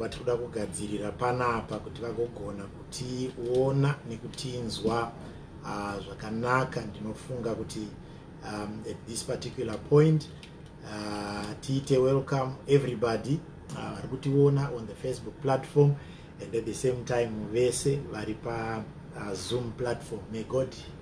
vatiri kuda kugadzirira panapa kuti vagogona kutiona nekutinzwa uh, zvakanaka ndinofunga kuti um, at this particular point uh, tiite welcome everybody uh, vari uh, kutiona on the facebook platform and at the same time vese vari pazoom uh, platform may god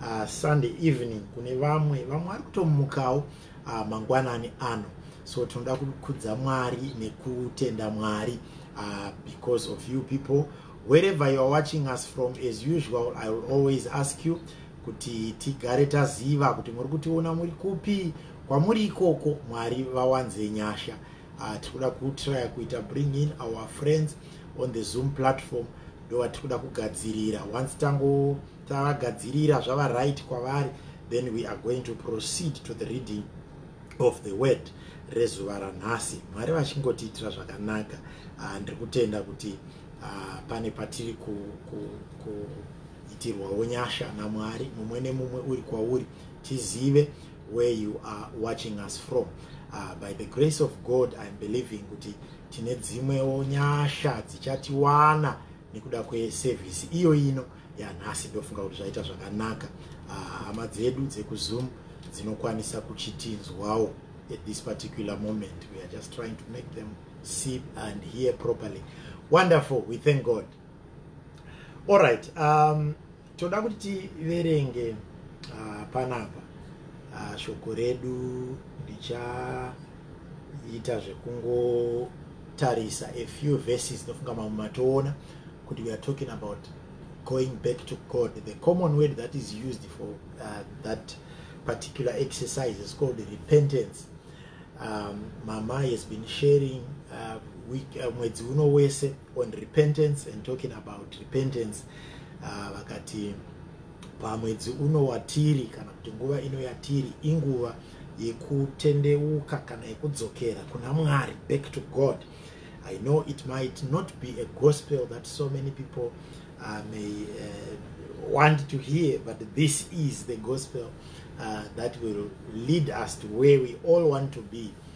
uh, sunday evening kune vamwe vamwe ari kutomukawo uh, mangwanani ano so tinoda kukudza mwari nekutenda mwari uh, because of you people wherever youare watching us from as usual i will always ask you kuti tigare taziva kuti muri kutiona muri kupi kwamuri ikoko mwari vawanze nyasha uh, tikuda kutrya kuita bring in our friends on the zoom platform ndovatikuda kugadzirira once tango tavagadzirira zvava right kwavari then we are going to proceed to the reading of the word rezuva ranhasi mwari vachingotiitira zvakanaka ah, ndiri kutenda kuti ah, pane patiri kuitirwawo nyasha namwari mumwe nemumwe uri kwauri tizive where you are watching us from ah, by the grace of god iam believing kuti tine dzimwewo nyasha dzichatiwana nekuda kwesevhisi iyo ino yanhasi ndofunga kuti zvaita zvakanaka ah, hama dzedu dzekuzoom dzinokwanisa kuchitinzwawo at this particular moment we are just trying to make them see and hear properly wonderful we thank god all right um, toda kuti tiverenge uh, panapa uh, shoko redu ndichaita zvekungotarisa a few verses ndofunga mamwe matoona kuti we are talking about going back to god the common word that is used for uh, that particular exercise is called repentance um, mama has been sharing uh, week uh, mwedzi uno wese on repentance and talking about repentance uh, vakati pamwedzi uno watiri kana kuti nguva ino yatiri inguva yekutendeuka kana yekudzokera kuna mwari back to god i know it might not be a gospel that so many people uh, may uh, want to hear but this is the gospel uh, that will lead us to where we all want to be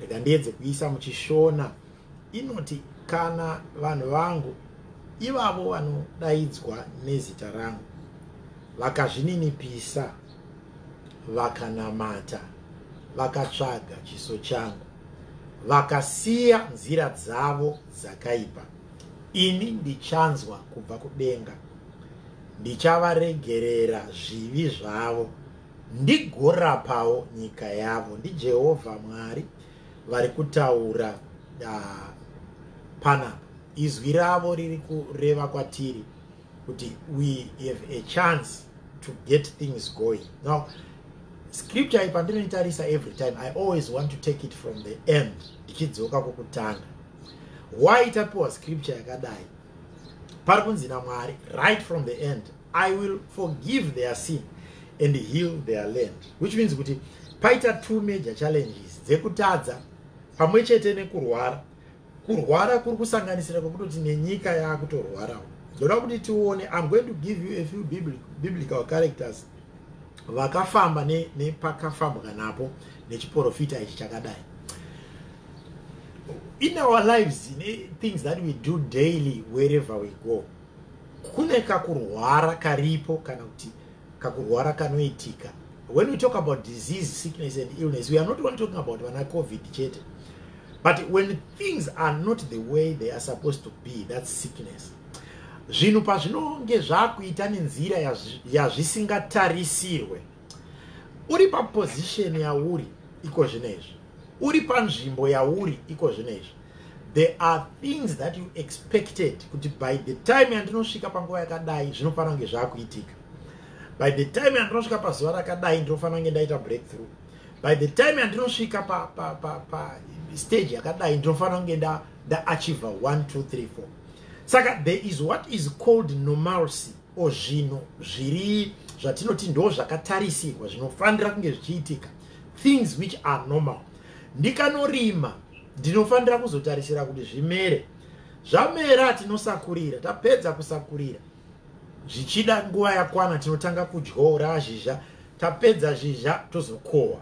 rega ndiedze kuisa muchishona inoti kana vanhu vangu ivavo vanodaidzwa nezita rangu vakazvininipisa vakanamata vakatsvaga chiso changu vakasiya nzira dzavo dzakaipa ini ndichanzwa kubva kudenga ndichavaregerera zvivi zvavo ndigorapawo nyika yavo. NdiJehovha Mwari vari kutaura uh, panapa. Izwi ravo riri kureva kwatiri kuti we have a chance to get things going. Now, scripture iyi pandinoitarisa every time i always want to take it from the end ndichidzoka kukutanga why tapiwa scripture yakadai pari kunzi namwari right from the end I will forgive their sin and heal their land which means kuti paita two major challenges dzekutadza pamwe chete nekurwara kurwara kuri kusanganisira kwekutoti nenyika yaakutorwarawo ndoda kuti tione im going to give you a few biblical characters vakafamba nepakafambwa ne napo nechiprofita ichi chakadai in our lives ne things that we do daily wherever we go kune kakurwara karipo kana kuti kakurwara kanoitika when we talk about disease sickness and illness we are not only talking about vana covid chete but when things are not the way they are supposed to be that's sickness zvinhu pazvinonge zvakuita nenzira yazvisingatarisirwe uri paposition yauri iko zvino izvi uri panzvimbo yauri iko zvino izvi there are things that you expected kuti by the time yandinosvika panguva yakadai zvinofanira kunge zvakuitika by the time yandinosvika pazuva rakadai ndinofanira kunge ndaita breakthrough by the time yandinosvika pa, pa, pa, pa stage yakadai ndinofanira kunge ndaachiva 1 2 3 4 saka there is what is called normalcy or zvinhu zviri zvatinoti ndo zvakatarisirwa zvinofanira kunge zvichiitika things which are normal ndikanorima ndinofanira kuzotarisira kuti zvimere zvamera tinosakurira tapedza kusakurira zvichida nguva yakwana tinotanga kudyora zhizha tapedza zhizha tozokohwa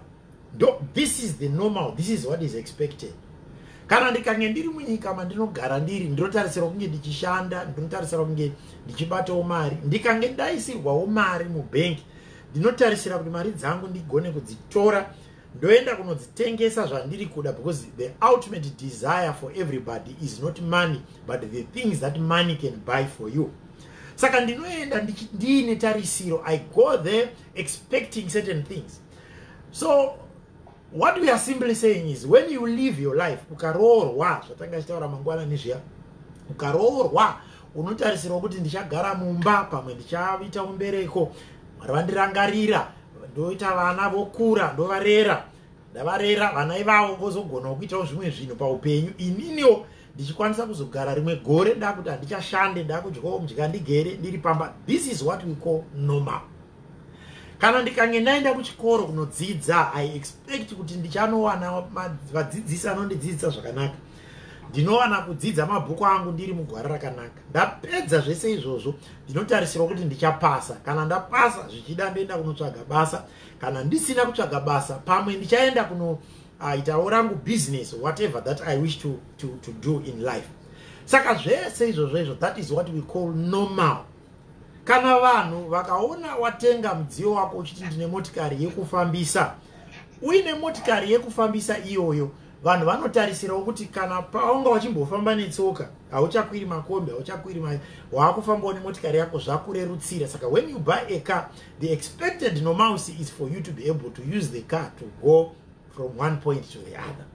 ndo this is the normal this is what is expected kana ndikange ndiri munyika mandinogara ndiri ndinotarisirwa kunge ndichishanda ndinotarisirwa kunge ndichibatawo mari ndikange ndaisirwawo mari mubhengi ndinotarisira kuti mari dzangu ndigone kudzitora ndoenda kunodzitengesa zvandiri kuda because the ultimate desire for everybody is not money but the things that money can buy for you saka ndinoenda ndiine tarisiro i go there expecting certain things so What we are simply saying is when you live your life ukaroorwa zvatanga achitaura mangwana nezviya ukaroorwa unotarisirwa kuti ndichagara mumba pamwe ndichaita umbereko mwari vandirangarira ndoita vana vokura ndovarera ndavarera vana ivavo vozogonawo kuitawo zvimwe zvinhu paupenyu ininiwo ndichikwanisa kuzogara rimwe gore ndakuti handichashande ndakudyawo mudya ndigere ndiri pamba this is what we call normal kana ndikange ndaenda kuchikoro kunodzidza i expect kuti ndichanowana vadzidzisi anondidzidzisa zvakanaka ndinowana kudzidza mabhuku angu ndiri mugwara rakanaka ndapedza zvese izvozvo ndinotarisirwa kuti ndichapasa kana ndapasa zvichida ndoenda kunotsvaga basa kana ndisina kutsvaga basa pamwe ndichaenda kuno aitawo rangu business whatever that i wish to, to, to do in life saka zvese izvozvo izvo that is what we call normal Kana vanhu vakaona watenga mudziyo wako uchiti ndine motikari yekufambisa uine motikari yekufambisa iyoyo vanhu vanotarisirawo kuti kana paunga wachimbofamba netsoka hauchakwiri makombi hauchakwiri ma waakufambawo nemotikari yako zvakurerutsira saka when you buy a car the expected nomouse is for you to be able to use the car to go from one point to the other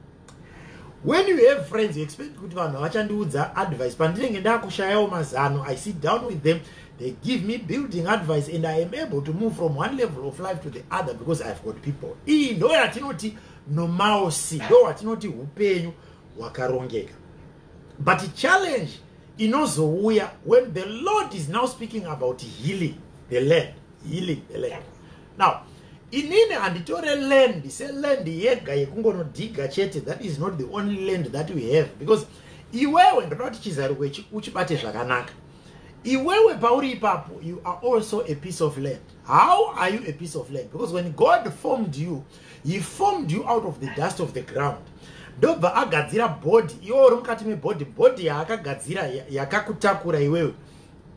when you have friends you expect kuti vanhu havachandiudza advice pandinenge ndakushayawo mazano i sit down with them they give me building advice and i am able to move from one level of life to the other because i have got people iyi ndo yatinoti nomaosi ndo watinoti upenyu hwakarongeka but challenge inozouya when the lord is now speaking about healing the land healing the land now inini handitore land seland yega yekungonodhiga chete that is not the only land that we have because iwewe ndoda kuti chizaruko ichi uchibate zvakanaka iwewe pauri ipapo you are also a piece of land how are you a piece of land because when god formed you he formed you out of the dust of the ground ndobva agadzira bhodhi iwe uri mukati mebhodhi bhodhi yaakagadzira yakakutakura iwewe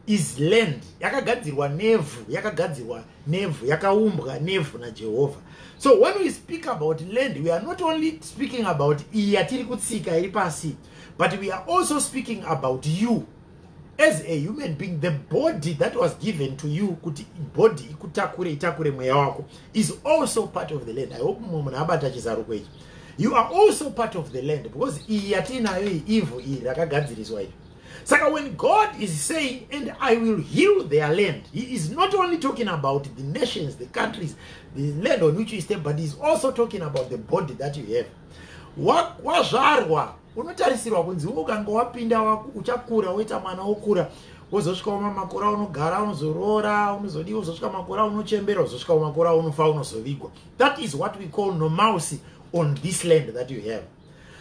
is land yakagadzirwa nevhu yakagadzirwa nevhu yakaumbwa nevhu najehovha so when we speak about land we are not only speaking about iyi yatiri kutsika iri pasi but we are also speaking about you as a human being the body that was given to you kuti body ikutakure itakure mweya wako is also part of the land i hope mumwe munhu abata chizaruko ichi you are also part of the land because iyi yatiinayo iyi ivhu iri rakagadziriswa iri Saka when God is saying, and I will heal their land, he is not only talking about the nations, the countries, the land on which you stay, but he's also talking about the body that you have. Wazvarwa, unotarisirwa kunzi ukanga wapinda uchakura woita mwana wokura wozosvika umamakura unogara unozoroora unozodii wozosvika makura unochembera wozosvika umakura unofa unozovigwa that is what we call nomousy on this land that you have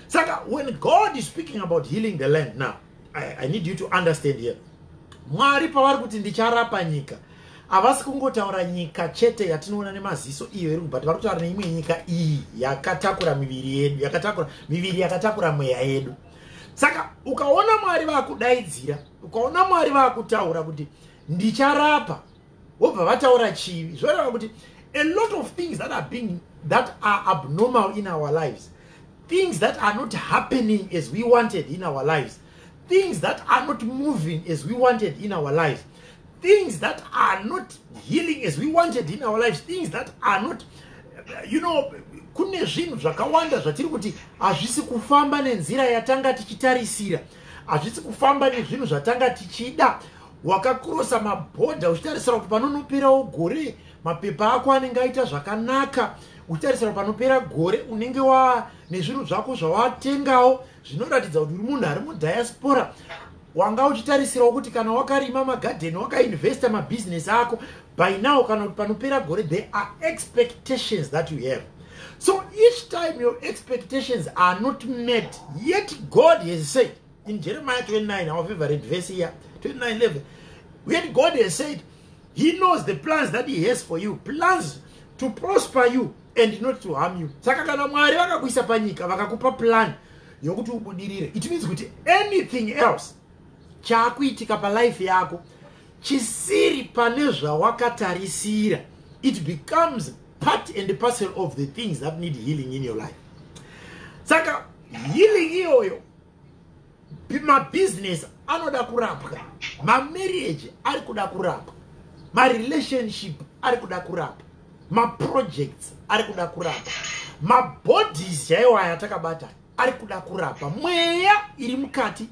saka when god is speaking about healing the land now i, I need you to understand here mwari pavari kuti ndicharapa nyika havasi kungotaura nyika chete yatinoona nemaziso iyo iri kubata vari kutaura neimwe nyika iyi yakatakura miviri yedu yakatakura miviri yakatakura mweya yedu saka ukaona mwari vakudaidzira ukaona mwari vakutaura kuti ndicharapa vobva vataura chivi zvoreva kuti a lot of things that are being that are abnormal in our lives things that are not happening as we wanted in our lives things that are not moving as we wanted in our lives things that are not healing as we wanted in our lives things that are not you know kune zvinhu zvakawanda zvatiri kuti hazvisi kufamba nenzira yatanga tichitarisira hazvisi kufamba nezvinhu zvatanga tichida wakakurosa mabhodha uchitarisira kuti panonoperawo gore mapepa ako anenge aita zvakanaka uchitarisira kuti panopera gore unenge wa nezvinhu zvako zvawatengawo zvinoratidza kuti uri munhu ari mudiaspora wanga uchitarisirawo kuti kana wakarima magadheni wakainvesta mabhizinesi ako by now kana kuti panopera gore there are expectations that you have so each time your expectations are not met yet god has said In Jeremiah 29, our favorite verse here, 29 11, when God has said, He knows the plans that He has for you, plans to prosper you and not to harm you. Saka kana Mwari vakakuisa panyika vakakupa plan yokuti ubudirire. It means kuti anything else chakuitika pa life yako chisiri pane zvawakatarisira it becomes part and parcel of the things that need healing in your life. Saka healing iyoyo mabusiness anoda kurapwa mamarriage ari kuda kurapwa marelationship ari kuda kurapwa maprojects ari kuda kurapa mabodies chaiwo aya atakabata ari kuda kurapa mweya iri mukati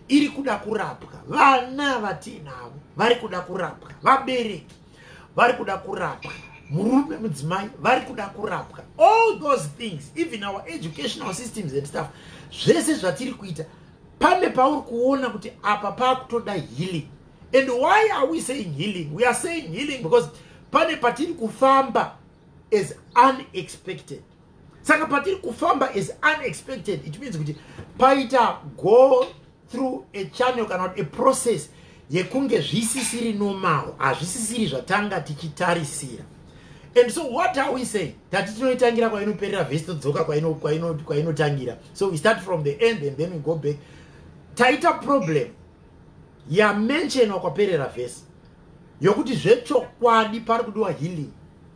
iri kuda kurapwa vana vatiinavo vari kuda kurapwa vabereki vari kuda kurapwa murume mudzimai vari kuda kurapwa all those things even our educational systems and stuff zvese zvatiri kuita pane pauri kuona kuti apa paakutoda healing and why are we saying healing we are saying healing because pane patiri kufamba as unexpected saka patiri kufamba as unexpected it means kuti paita go through a channel kana kuti a process yekunge zvisisiri normal hazvisisiri zvatanga tichitarisira and so what are we saying tati tinoitangira kwainoperera vhesi todzoka kwainotangira so we start from the end and then we go back taita problem yamentionwa kwaperera vhesi yokuti zvechokwadi pari kudiwa healing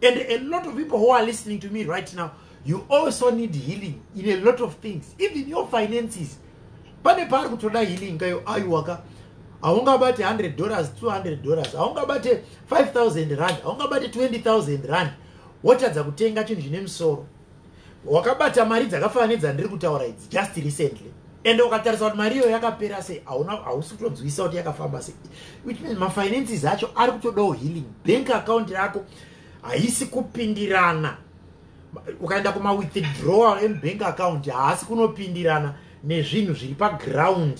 and a lot of people who are listening to me right now you also need healing in a lot of things even your finances pane paari kutoda healing kayo aiwaka haungabate 100 dollars 200 dollars haungabate 5000 rand haungabate 20000 rand wotadza kutenga chinhu chine musoro wakabata mari dzakafanana nedzandiri kutaura idzi just recently and ukatarisa kuti mari iyoyo yakapera sei hauna hausi kutonzwisa kuti yakafamba sei which means mafinances acho ari kutodawo healing bank account rako haisi kupindirana ukaenda kumawithdrawal emubank account haasi kunopindirana nezvinhu zviri paground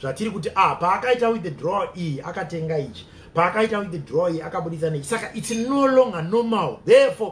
zvatiri kuti ah paakaita withdrawal iyi akatenga ichi paakaita withdrawal iyi akabudisa neichi saka its no longer normal therefore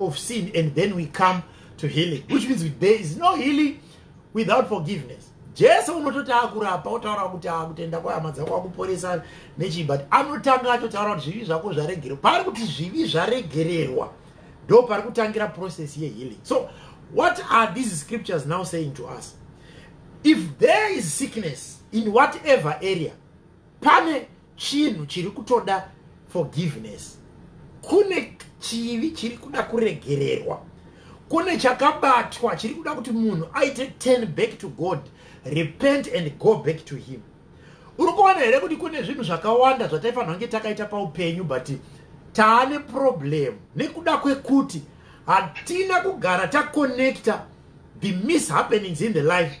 of sin and then we come to healing which means there is no healing without forgiveness jesu unototi akurapa otaura kuti akutenda kwahama dzako akuporesa nechii but anotanga atotaura kuti zvivi zvako zvaregererwa paari kuti zvivi zvaregererwa ndo pari kutangira process yehealing so what are these scriptures now saying to us if there is sickness in whatever area pane chinhu chiri kutoda forgiveness kune chivi chiri kuda kuregererwa kune chakabatwa chiri kuda kuti munhu aite turn back to god repent and go back to him uri kuona here kuti kune zvinhu zvakawanda zvataifanira kunge takaita paupenyu but taane problem nekuda kwekuti hatina kugara taconnecta the mishappenings in the life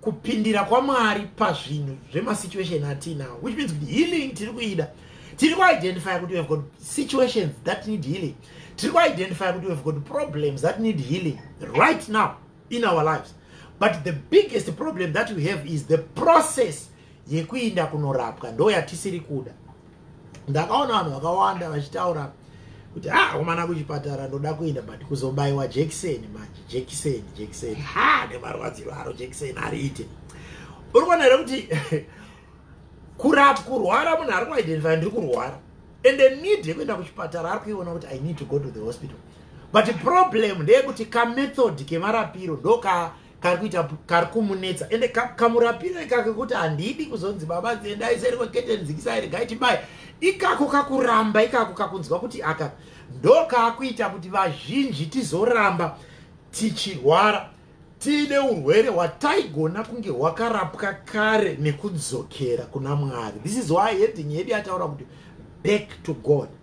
kupindira kwamwari pazvinhu zvemasituation atiinawo which means kuti healing tiri kuida tiri kuidentifya kuti we've got situations that need healing tiri kuidentifya kuti we've got problems that need healing right now in our lives but the biggest problem that we have is the process yekuinda kunorapwa ndo yatisiri kuda ndakaona vanhu vakawanda vachitaura kuti ha ah, umana kuchipatara ndoda kuinda but kuzobaiwa jekiseni manje jekiseni jekiseni ha nemarwadziro aro jekiseni ariite uri kuona here kuti kurap kurwara munhu ari kuidentify ndiri kurwara and the need yekuenda kuchipatara ari kuiona kuti i need to go to the hospital but problem ndeyekuti kamethod kemarapiro ndoka kari kuita kari kumunetsa ende kamurapiro ikako kuti handidi kuzonzi baba dziendai seri kwekete nzikisai regai tibai ikako kakuramba ikako kakunzwa kuti aka ndo kaakuita kuti vazhinji tizoramba tichirwara tiine urwere hwataigona kunge hwakarapwa kare nekudzokera kuna mwari this is why heading yedu yataura kuti back to god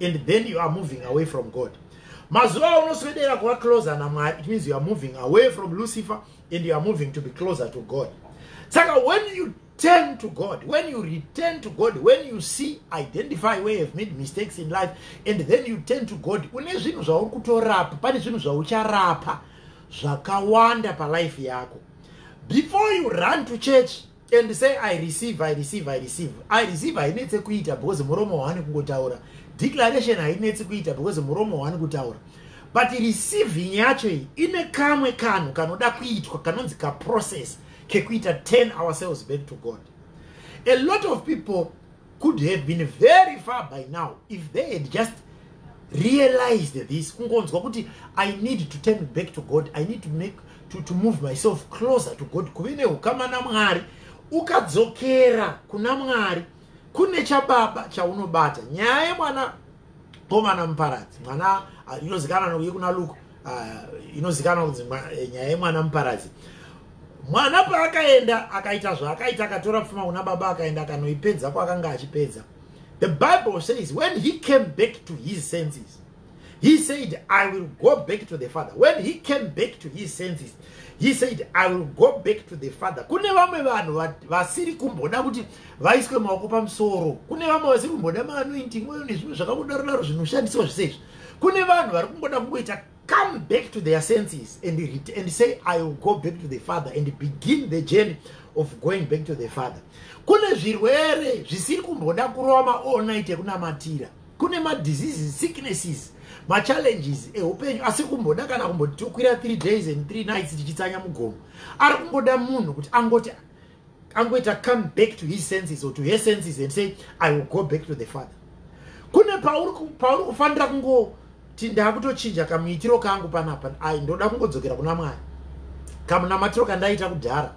and then you are moving away from god mazuva aunoswedera kuva closer namwari it means you are moving away from lucifer and you are moving to be closer to god saka when you turn to god when you return to god when you see identify where you've made mistakes in life and then you turn to god une zvinhu zvauri kutorapa pane zvinhu zvaucharapa zvakawanda palife yako before you run to church and say i receive i receive i receive i receive hainetse kuita because muromo waani kungotaura declaration hainetse kuita because muromo waani kutaura but receiving yacho iyi ine kamwe kanhu kanoda kuitwa kanonzi kaprocess kekuita turn ourselves back to god a lot of people could have been very far by now if they had just realized this kungonzwa kuti i need to turn back to god i need to make to, to move myself closer to god kuve neukama namwari ukadzokera kuna mwari kune chababa chaunobata nyaya yemwana komana muparadzi mwana uh, inozikana nokuye kuna luke uh, inozikana kunzi eh, nyaya yemwana muparadzi mwana paakaenda akaita zvaakaita akatora pfuma kuna baba akaenda akanoipedza kwaakanga achipedza the bible says when he came back to his senses he said i will go back to the father when he came back to his senses he said i will go back to the father kune vamwe vanhu vasiri kumboda kuti vaiswe maoko pamusoro kune vamwe vasiri kumboda maanointing oyo nezvimwe zvakakudaro daro zvinoshandiswa zvese izvi kune vanhu vari kungoda kungoita come back to their senses and, and say i will go back to the father and begin the journey of going back to the father kune zvirwere zvisiri kumboda kurova maonit ekunamatira kune madiseases sicknesses machallenges eupenyu asiri kumboda kana kumboti tokwira three days and three nights tichitsanya mugomo ari kungoda munhu kuti angoti angoita come back to his senses or to her senses and say i will go back to the father kune pauri kufanira kungoti ndakutochinja kamuitiro kangu panapa ai ndoda kungodzokera kuna mwari kamunamatiro kandaita kudhara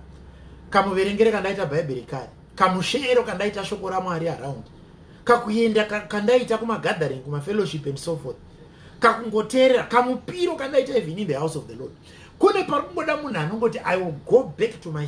kamuverengere kandaita bhaibheri kare kamusheero kandaita shoko ramwari around kakuenda kandaita kumagathering kumafellowship and so forth kakungoteerera kamupiro kandaita even in the house of the lord kune pari kungoda munhu anongoti i will go back to my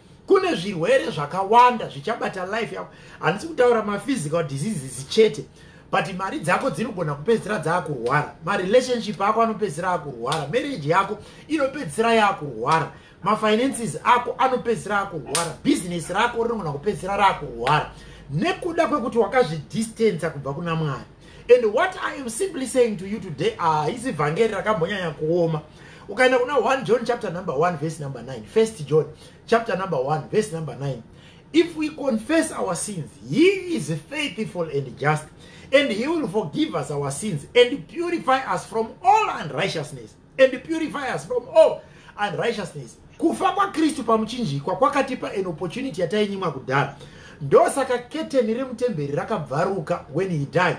kune zvirwere zvakawanda zvichabata life yako handisi kutaura maphysical diseases chete but mari dzako dzinogona kupedzisira dzaakurwara marelationship ako anopedzisira akurwara marriage yako inopedzisira yaakurwara mafinances ako anopedzisira akurwara business rako rinogona kupedzisira raakurwara nekuda kwekuti wakazvidistanca kubva kuna mwari and what i am simply saying to you today haisi ah, vhangeri rakambonyanya kuoma ukaenda kuna 1 john chapter number 1 verse number 9 first john chapter number 1 verse number 9 if we confess our sins he is faithful and just and he will forgive us our sins and purify us from all unrighteousness and purify us from all unrighteousness kufa kwakristu pamuchinjikwa kwakatipa an opportunity yatainyimwa kudhara ndosaka keteni remutemberi rakabvaruka when he died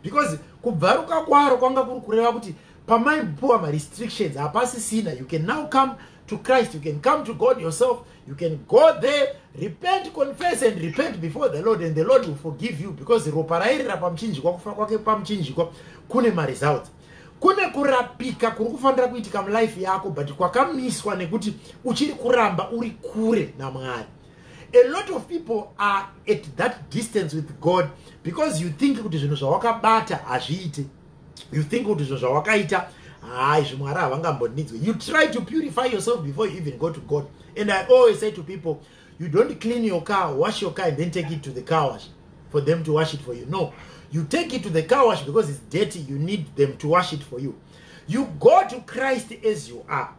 because kubvaruka kwaro kwanga kuri kureva kuti pamaipuwa marestrictions hapasisina you can now come to christ you can come to god yourself you can go there repent confess and repent before the lord and the lord will forgive you because ropa rairira pamuchinjikwa kufa kwake pamuchinjikwa kune maresults kune kurapika kuri kufanira kuitika mulife yako but kwakamiswa nekuti uchiri kuramba uri kure namwari a lot of people are at that distance with god because you think kuti zvinhu zvawakabata hazviite you think kuti zvinhu zvawakaita hayi zvimwe ari havangambonidzwe you try to purify yourself before you even go to god and i always say to people you don't clean your car wash your car and then take it to the car wash for them to wash it for you no you take it to the car wash because it's dirty you need them to wash it for you you go to christ as you are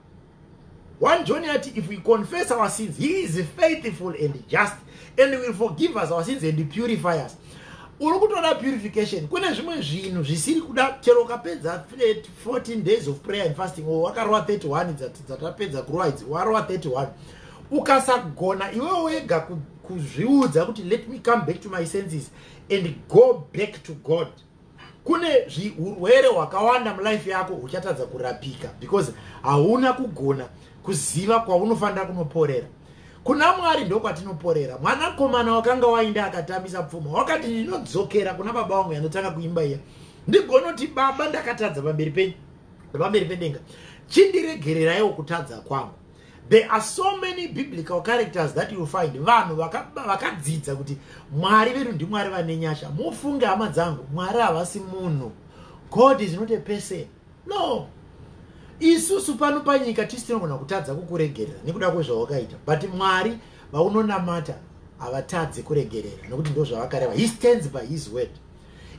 one john ati if we confess our sins he is faithful and just and will forgive us our sins and purify us uri kutoda purification kune zvimwe zvinhu zvisiri kuda chero ukapedza 14 days of prayer and fasting or wakarova 31 dzatapedza kurova idzi warova 31 ukasagona iwewe wega kuzviudza kuti let me come back to my senses and go back to god kune urwere hwakawanda mulife yako huchatadza kurapika because hauna kugona kuziva kwaunofanira kunoporera kuna mwari ndokwatinoporera mwanakomana wakanga wainda akatambisa pfuma wakati ndinodzokera kuna baba wangu yanotanga kuimba iya ndigonoti baba ndakatadza pamberi penyu pamberi pendenga chindiregereraiwo kutadza kwangu There are so many biblical characters that you find vanhu vakadzidza kuti mwari vedu ndimwari vane nyasha mufunge hama dzangu mwari havasi munhu god is not a person no isusu pano panyika tisi tinogona kutadza kukuregerera nekuda kwezvawakaita but mwari vaunonamata havatadze kuregerera nekuti ndozvavakareva he stands by his word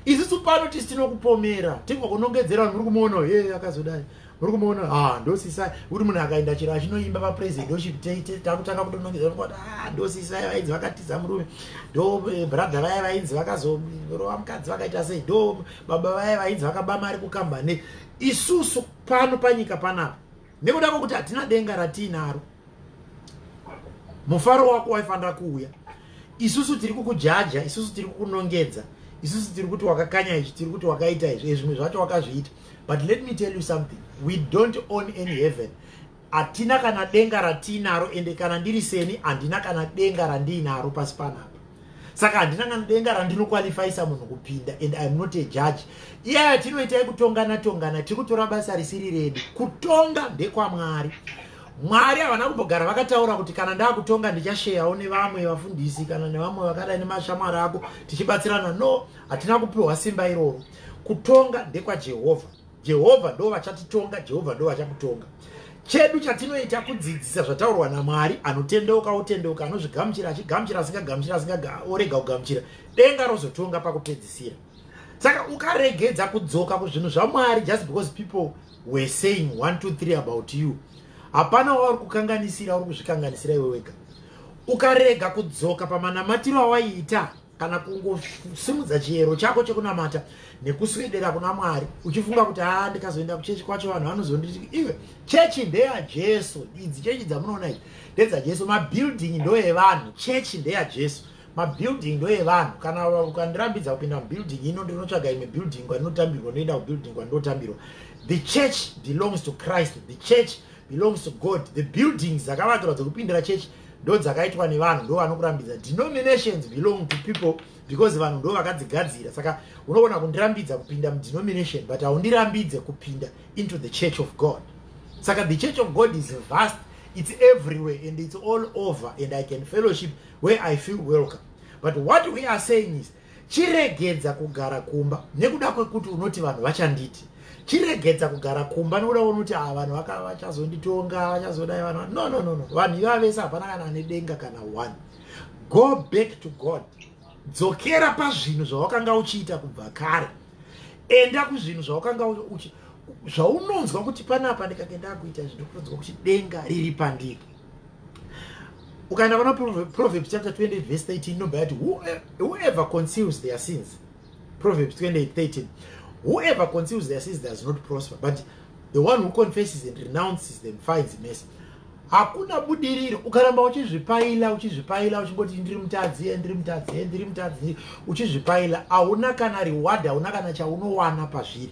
isisu pano tisi tinokupomera tingokunongedzera vanhu muri kumuona he akazodai muri kumuona ah, ndosisai kuti munhu akaenda chero achinoimba papresidentoship takutanga kutonongedzera kuti ah, ndosisai vainzi vakatiza murume ndo eh, brother vaya vainzi vakazorova mukadzi vakaita sei ndo baba vaya vainzi vakaba mari kukambane isusu pano panyika panapa nekuda kwekuti hatina denga ratiinaro mufaro wako waifanira kuuya isusu tiri kukujaja isusu tiri kukunongedza isusu tiri kuti wakakanya izvi tiri kuti wakaita izvi ezvimwe zvacho wakazviita but let me tell you something we don't own any heaven hatina kana denga ratiinaro ende kana ndiri seni handina kana denga randiinaro pasi panapa saka handina kana denga randinokwalifaisa munhu kupinda and iam not a judge iya yatinoita yekutongana tongana tiri kutora basa risiri redu kutonga ndekwamwari mwari havana kumbogara vakataura kuti kana ndaakutonga ndichasheyawo nevamwe vafundisi kana nevamwe vakadai nemashamwari ako tichibatsirana no hatina kupiwa simba iroro kutonga ndekwajehovha Jehovha ndo vachatitonga, Jehovha ndo vachakutonga. Chedu chatinoita kudzidzisa zvataurwa naMwari, anotendeuka otendeuka, anozvigamuchira achigamuchira, asingagamuchira asinga orega kugamuchira. Denga rozotonga pakupedzisira. Saka ukaregedza kudzoka kuzvinhu zvaMwari just because people were saying 1 2 3 about you. Hapana wauri kukanganisira, uri kuzvikanganisira iwe wega. Ukarega kudzoka pamanamatiro awaiita kana kungosimudza chiyero chako chekunamata nekuswedera kuna mwari uchifunga kuti haa ndikazoenda kuchechi kwacho vanhu vanozonditi iwe chechi ndeyajesu idzi chechi dzamunoona idzi ndedzajesu mabuilding ndoevanhu chechi ndeyajesu mabuilding ndoevanhu kana ukandirambidza kupinda mubuilding ino ndinotsvaga imwe building kwandinotambirwa ndoenda kubuilding kwandinotambirwa the church belongs to christ the church belongs to god the buildings dzakavakirwa dzekupindira chechi ndodzakaitwa nevanhu ndo vanokurambidza denominations belong to people because vanhu ndo vakadzigadzira saka unogona kundirambidza kupinda mudenomination but haundirambidze kupinda into the church of god saka the church of god is vast it's everywhere and it's all over and i can fellowship where i feel welcome but what we are saying is Chiregedza kugara kumba nekuda kwekuti unoti vanhu vachanditi. Chiregedza kugara kumba nekuda kwekuti ah vanhu vaka vachazonditonga vachazodai vanhu. No no no no. Vanhu ivava vese hapana kana ane denga kana one. Go back to God. Dzokera pazvinhu zvawakanga uchiita kubva kare. Enda kuzvinhu zvawakanga uchiita zvaunonzwa kuti panapa ndikagenda kuita zvinhu kutonzwa kuti denga riri pandiri ukaenda pana proverbs chapter 28 verse 13 inobva yati whoever conceals their sins proverbs 28 13 whoever conceals their sins does not prosper but the one who confesses and renounces them finds mercy hakuna budiriro ukaramba uchizvipaila uchizvipaila uchingoti ndiri mutadzi eh, ndiri mutadzi eh, ndiri mutadzi uchizvipaila hauna kana reward hauna kana chaunowana pazviri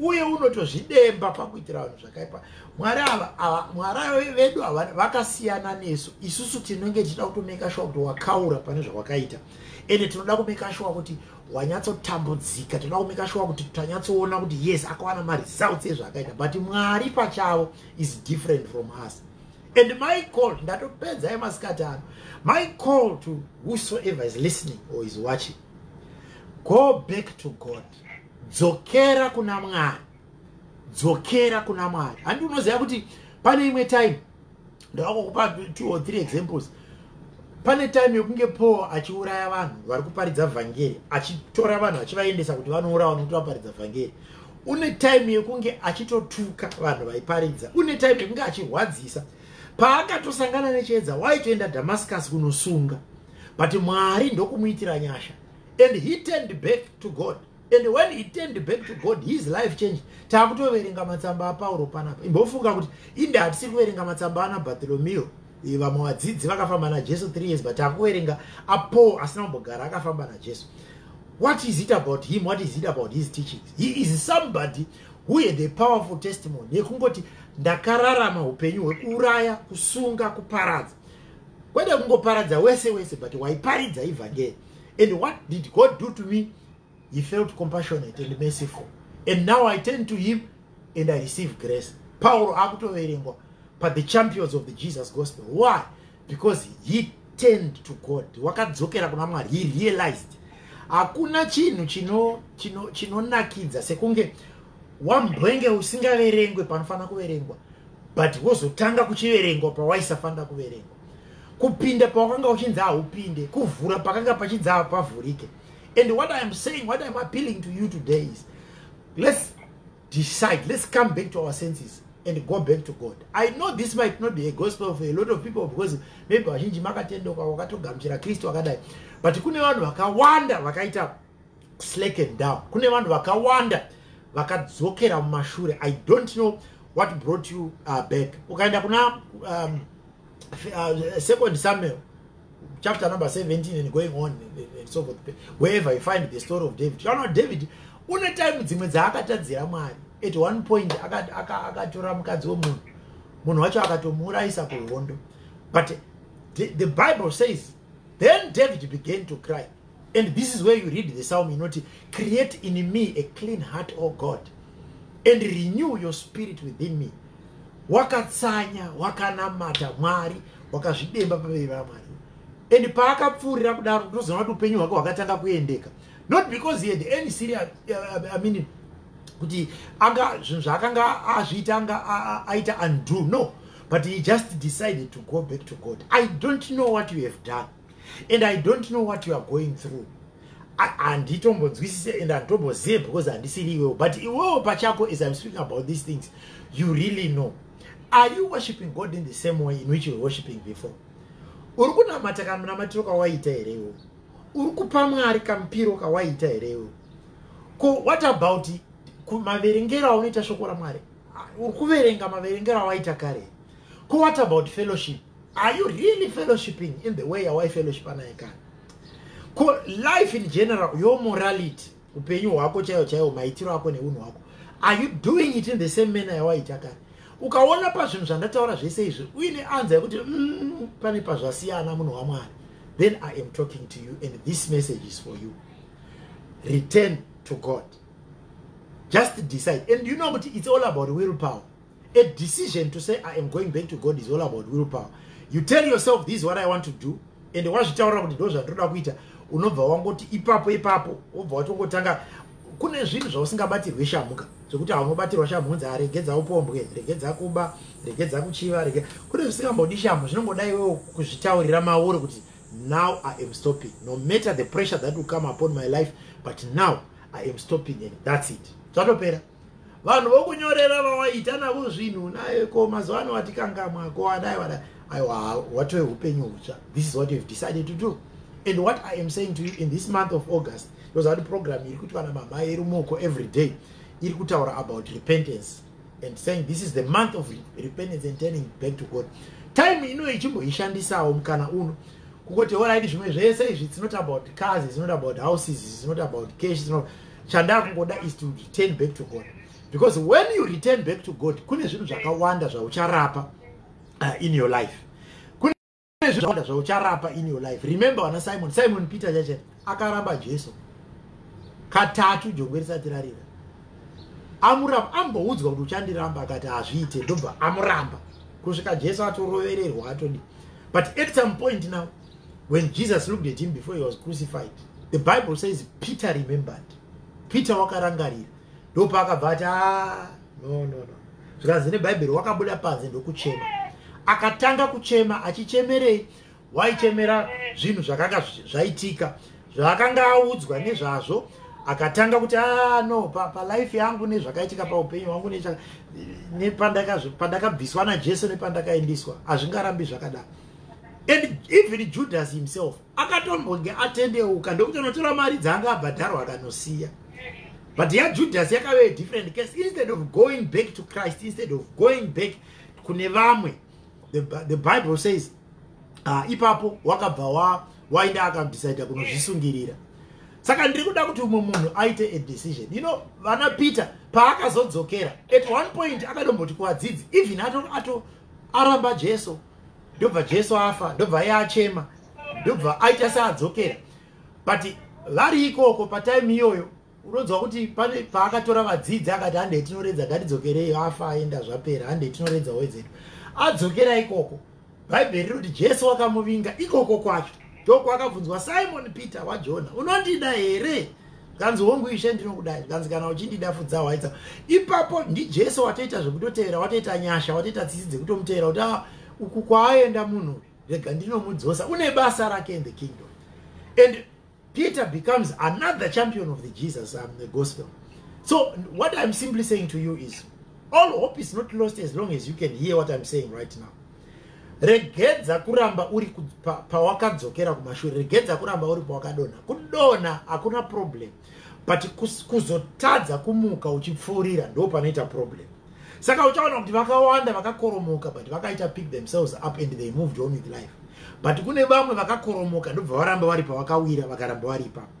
uye unotozvidemba pakuitira vanhu zvakaipa mwari ava mwari vedu ava vakasiyana nesu isusu tinenge tichida kutomeka shuwa kuti wakaura pane zvawakaita ende tinoda kumeka shuwa kuti wanyatsotambudzika tinoda kumeka shuwa kuti tanyatsoona kuti yes akawana maresults ezvaakaita but mwari pachavo is different from us and my call ndatopedza emasikati ano my call to whosoever is listening or is watching go back to god dzokera kuna mwari dzokera kuna mwari handi unoziva kuti pane imwe time ndavakukupa two or three examples pane time yokunge paul achiuraya vanhu vari kuparidza vhangeri achitora vanhu achivaendesa kuti vanourawa nokuti vaparidza vhangeri une time yekunge achitotuka vanhu vaiparidza une time yekunge achirwadzisa paakatosangana nechiedza waitoenda damascus kunosunga but mwari ndokumuitira nyasha and he turned back to god and when he turned back to god his life changed taakutoverenga matsamba apauro panapa imbofunga kuti inde hatisiri kuverenga matsamba ana bartolomeo eh, vamwe vadzidzi vakafamba najesu three years but taakuverenga apaul asina kumbogara akafamba najesu what is it about him what is it about his teachings he is somebody who had a powerful testimony yekungoti ndakararama upenyu hwekuuraya kusunga kuparadza kwede kungoparadza wese wese but waiparidza evhangeri and what did god do to me he felt compassionate and merciful and now i turn to him and i receive grace pauro akutoverengwa but the champions of the jesus gospel why because he turned to god wakadzokera kuna mwari he realized hakuna chinhu chinonakidza sekunge wambwenge usingaverengwe panofanira kuverengwa but wozotanga kuchiverengwa pawaisafanira kuverengwa kupinda pawakanga uchinzi haupinde kuvhura pakanga pachinzi hapavhurike and what i am saying what iam appealing to you today is let's decide let's come back to our senses and go back to god i know this might not be a gospel for a lot of people because maybe vazhinji makatendoka wakatogamuchira kristu akadai but kune vanhu vakawanda vakaita slacken down kune vanhu vakawanda vakadzokera mumashure i don't know what brought you uh, back ukaenda kuna um, uh, second samuel chapter number 17 and going on and so forth wherever you find the story of david kana david une time dzimwe dzaakatadzira mwari at one point akatora mukadzi wemunhu munhu wacho akatomuurayisa kuhondo but the, the bible says then david began to cry and this is where you read the psalm inoti create in me a clean heart o god and renew your spirit within me wakatsanya wakanamata mwari wakazvidemba paveri vamwari and paakapfuurira kudaro ndozoona kuti upenyu hwake hwakatanga kuendeka not because he had any serious uh, i mean kuti anga zvinhu zvaakanga azviita anga aita undo no but he just decided to go back to god i don't know what you have done and i don't know what you are going through handitombonzwisise and handitombozive because handisiri iwewo but iwewo pachako as im speaking about these things you really know are you worshiping god in the same way in which you were worshiping before uri kunamata kamunamatiro kawaita here iwewo uri kupa mwari kamupiro kawaita here iwewo ko what about maverengero aunoita shoko ramwari uri kuverenga maverengero awaita kare ko what about fellowship are you really fellowshipping in the way yawaifellowshipa naye kana ko life in general yo morality upenyu hwako chaiwo chaiwo maitiro ako neunhu hwako are you doing it in the same manner yawaita kare ukaona pazvinhu zvandataura zvese izvi uine anza yekuti mm, pane pazvasiyana munhu wamwari then i am talking to you and this message is for you return to god just decide and you know kuti it's all about will power A decision to say I am going back to God is all about willpower. You tell yourself this is what I want to do and wazvitaura kuti ndo zvandoda kuita unobva wangoti ipapo ipapo wobva watongotanga kune zvinhu zvausingabatirwe shamuka zvekuti haunobatirwa shamu unzi aregedza upombwe regedza kuba regedza kuchiva rege kune zvisingambodi shamu zvinongoda iwewo kuzvitaurira mauri kuti now i am stopping no matter the pressure that will come upon my life but now i am stopping and that's it zvatopera vanhu vokunyorera vawaita navo zvinhu naye ko mazuva ano watikangamwa ko wadai wadai aiwa watove upenyu hutsva this is what youhave decided to do and what i am saying to you in this month of august yoza kuti program iri kuti vana mamai iri moko every day iri kutaura about repentance and saying this is the month of repentance and turning back to god time ino ichimboishandisawo mukana uno kukoti oraidi zvimwe zvese izvi it's not about cars it's not about houses it's not about cash it's not about chandakungoda is to return back to god because when you return back to god kune zvinhu zvakawanda zvaucharapa uh, in your life kune zvinhu zvakawanda zvaucharapa in your life remember vana simon simon peter chache akaramba jesu katatu jongwe risati rarira amuramba amboudzwa kuti uchandiramba akati hazviite ndobva amuramba kusvika jesu atorovererwa atodi but at some point now when jesus looked at him before he was crucified the bible says peter remembered peter wakarangarira ndopaakabva ati ah, no no no zvikanzi nebhaibheri wakabuda panze ndokuchema akatanga kuchema achichemerei waichemera zvinhu zvakanga zvaitika zvaakanga audzwa nezvazvo akatanga kuti ah, no palife pa yangu nezvakaitika paupenyu hwangu nepandakabviswa najesu nepandakaendiswa hazvingarambi zvakadaro and even judas himself akatombonge atendeuka ndokutonotora mari dzaanga abhadharwa akanosiya but yajudas yakave different case instead of going back to christ instead of going back kune vamwe the, the bible says uh, ipapo wakabva wa wainda akadecida kunozvisungirira saka ndiri kuda kuti umwe munhu aite a decision you know vana peter paakazodzokera at one point akadomboti kuvadzidzi even ato, ato aramba jesu ndobva jesu afa ndobva iye achema ndobva aita seadzokera but vari ikoko patime iyoyo unonzwa kuti pane paakatora vadzidzi akati handei tinoredza ngatidzokerei afa aenda zvapera handei tinoredza wezedu adzokera ikoko bhaibheri rinoti jesu wakamuvinga ikoko kwacho ndokwaakabvunzwa simon peter wajona unondida here zvikanzi hongu ishe ndinokudai zvikanzi kana uchindida fudza waidza ipapo ndijesu watoita zvekutotevera watoita nyasha watoita tsitsi dzekutomuteera kuti ah, uku kwaaenda munhu uyu rega ndinomudzosa une basa rake in the kingdom and peter becomes another champion of the jesus um, the gospel so what i'm simply saying to you is all hope is not lost as long as you can hear what i'm saying right now regedza kuramba uri pawakadzokera pa kumashure regedza kuramba uri pawakadonha kudonha hakuna problem but kuzotadza kumuka uchipfuurira ndo panoita problem saka uchaona kuti vakawanda vakakoromoka but vakaita pick themselves up and they moved on with life but kune vamwe vakakoromoka ndobva varamba vari pavakawira vakaramba vari ipapo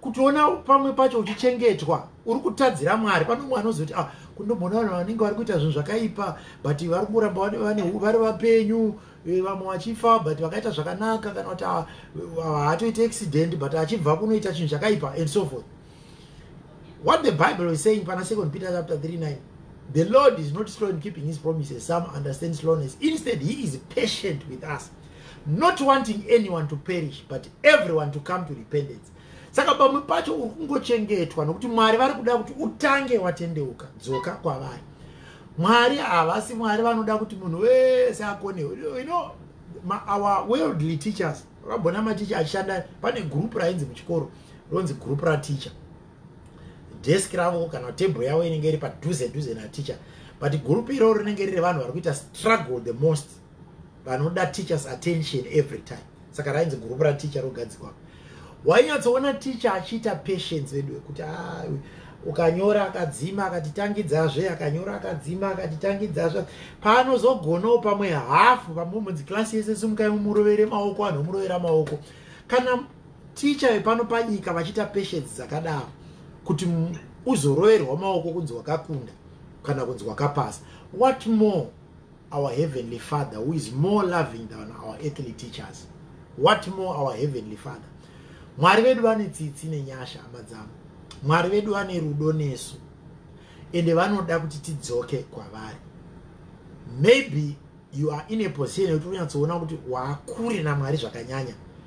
kutiona pamwe pacho uchichengetwa uri kutadzira mwari pane umwe anozoti ah, kundomboona vanhu vanenge vari kuita zvinhu zvakaipa but vari kuramba vari vapenyu eh, vamwe vachifa but vakaita zvakanaka kana kuti ah, haatoite accident but achibva kunoita chinhu chakaipa and so forth what the bible is saying pana second peter chapter 39 the lord is not slow in keeping his promises some understand slowness instead he is patient with us not wanting anyone to perish but everyone to come to repentance saka pamwe pacho uri kungochengetwa nokuti mwari vari kuda kuti utange watendeuka dzoka kwavari mwari havasi mwari vanoda kuti munhu wese akonewe you know our worldly teachers vakabona maticha achishanda pane group rainzi muchikoro ronzi group rateacher desk ravo kana table yavo inenge iri padhuze dhuze naticha but group iroro rinenge riri vanhu vari kuita struggle the most vanoda teachers attention every time saka rainzi gurupu rateacher rogadzikwa wainyatsoona teacher achiita patience vedu vekuti ah, ukanyora akadzima akatitangidzazve akanyora akadzima akatitangidzazve paanozogonawo pamwe hafu pamunzi klasi yese simukai mumurovere maoko anhu omurovera maoko kana ticha vepano panyika vachiita patience dzakadaro kuti uzoroverwa maoko kunzi wakakunda kana kunzi wakapasa what more our heavenly father who is more loving than our earthly teachers what more our heavenly father mwari vedu vane tsitsi nenyasha hama dzavo mwari vedu vane rudo nesu ende vanoda kuti tidzoke kwavari maybe you are in a position yekuti unyatsoona kuti waakure namwari zvakanyanya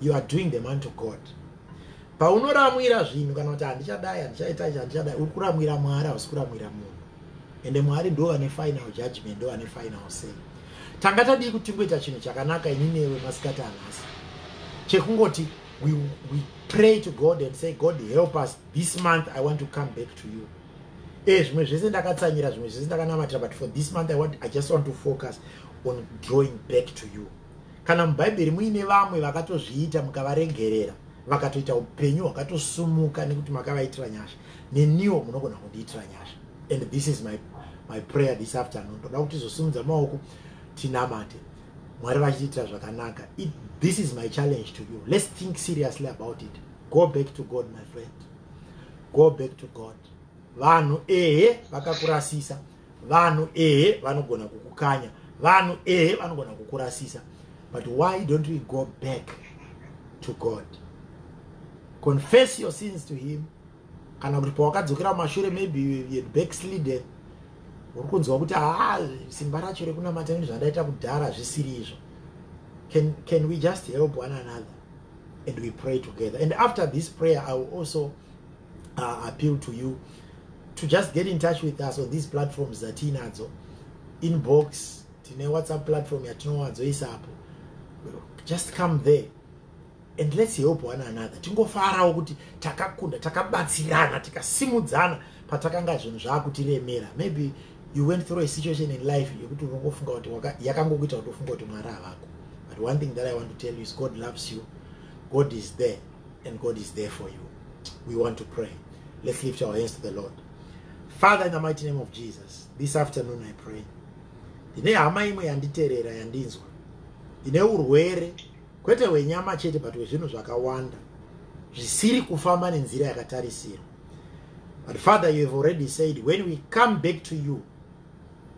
you are doing the man to god paunoramwira zvinhu kana kuti handichadai handichaita ichi handichadai uri kuramwira mwari hausi kuramwira munhu ende mwari ndo vane final judgment ndo vane final say tanga tadii kuti tingoita chinhu chakanaka ini newe masikati anhasi chekungoti we, we pray to god and say god help us this month i want to come back to you e eh, zvimwe zvese ndakatsanyira zvimwe zvese ndakanamatira but for this month i, want, I just want to focus on drawing back to you Kana mubhaibheri muine vamwe vakatozviita mukavaregerera vakatoita upenyu hwakatosumuka nekuti makavaitira nyasha neniwo munogona kundiitira nyasha and this is my, my prayer this afternoon toda kuti tizosimudza maoko tinamate mwari vachitiitira zvakanaka it, this is my challenge to you let's think seriously about it go back to god my friend go back to god vanhu ehe vakakurasisa vanhu ehe vanogona kukukanya vanhu ehe vanogona kukurasisa but why don't we go back to god confess your sins to him kana kuti pawakadzokera mumashure maybe you backslided uri kunzwa kuti haa ah, simba racho rekunamata ini zvandaita kudhara hazvisiri izvo can, can we just help one another and we pray together and after this prayer i will also uh, appeal to you to just get in touch with us on these platforms dzatiinadzo inbox tine whatsapp platform yatinowadzoisa apo just come there and let's help one another tingofarawo kuti takakunda takabatsirana tikasimudzana patakanga zvinhu zvaakutiremera maybe you went through a situation in life yekuti unongofunga kuti yakangokuita kuti ufunga kuti mwari havako but one thing that i want to tell you is god loves you god is there and god is there for you we want to pray let's lift our hands to the lord father in the mighty name of jesus this afternoon i pray ndine hama imwe yanditerera yandinzwa ndine urwere kwete hwenyama chete but hwezvinhu zvakawanda zvisiri kufamba nenzira yakatarisirwa but father you have already said when we come back to you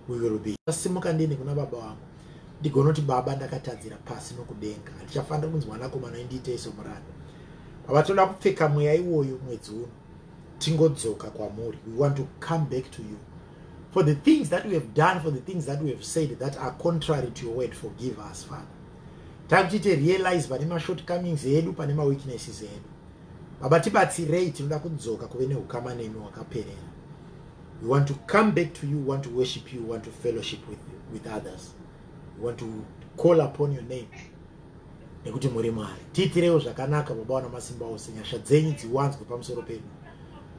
we will be asimuka ndiende kuna baba vangu ndigonoti baba ndakatadzira pasi nokudenga handichafanira kunzi mwanakomana indiitei somuranda baba tinoda kupfeka mweya iwoyo mwedzi uno tingodzoka kwamuri we want to come back to you for the things that we have done for the things that we have said that are contrary to your word forgive us father takutiite realize pane mashort comings edu pane maweaknesses edu baba tibatsirei tinoda kudzoka kuve neukama nemi wakaperera We want to come back to you, want to worship you, want to fellowship with, with others. We want to call upon your name. Nekuti muri Mwari. Tiitirewo zvakanaka baba wana masimba ose nyasha dzenyu dziwanzwe pamusoro pedu.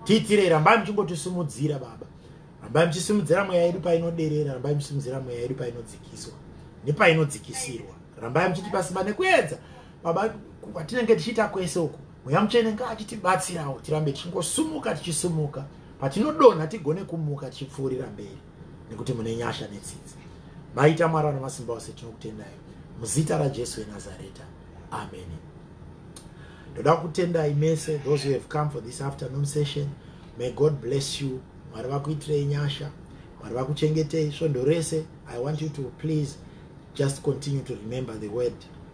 Tiitirei rambai muchingotisimudzira baba. Rambai muchisimudzira mweya yedu painoderera, rambai muchisimudzira mweya yedu painodzikiswa nepainodzikisirwa. Rambai muchitipa simba nekuedza baba kwatinenge tichiita kwese uku mweya mutsvene ngaachitibatsirawo tirambe tichingosumuka tichisumuka patinodonha tigone kumuka tichipfuurira mberi nekuti mune nyasha netsitsi maita mwari vanamasimba ose tinokutendai muzita rajesu wenazareta ameni ndoda kutendai mese those who have come for this afternoon session may god bless you mwari vakuitirei nyasha mwari vakuchengetei svondo rese i want you to please just continue to remember the word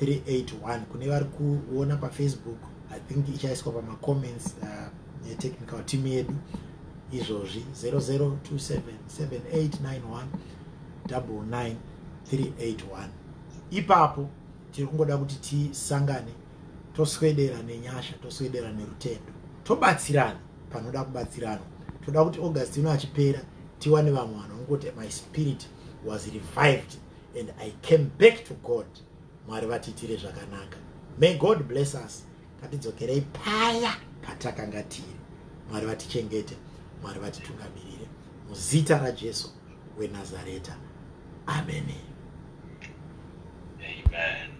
381 kune vari kuona pafacebook i think ichaiswa pamacomments uh, netechnical team yedu izvozvi 0027789199 381 ipapo tiri kungoda kuti tisangane toswedera nenyasha toswedera nerutendo tobatsirana panoda kubatsirana toda kuti august ino achipera tiwane vamwe vanhu vangoti my spirit was revived and i came back to god mwari vatiitire zvakanaka may god bless us ngatidzokerei paya patakanga tiri mwari vatichengete mwari vatitungamirire muzita rajesu wenazareta ameni amen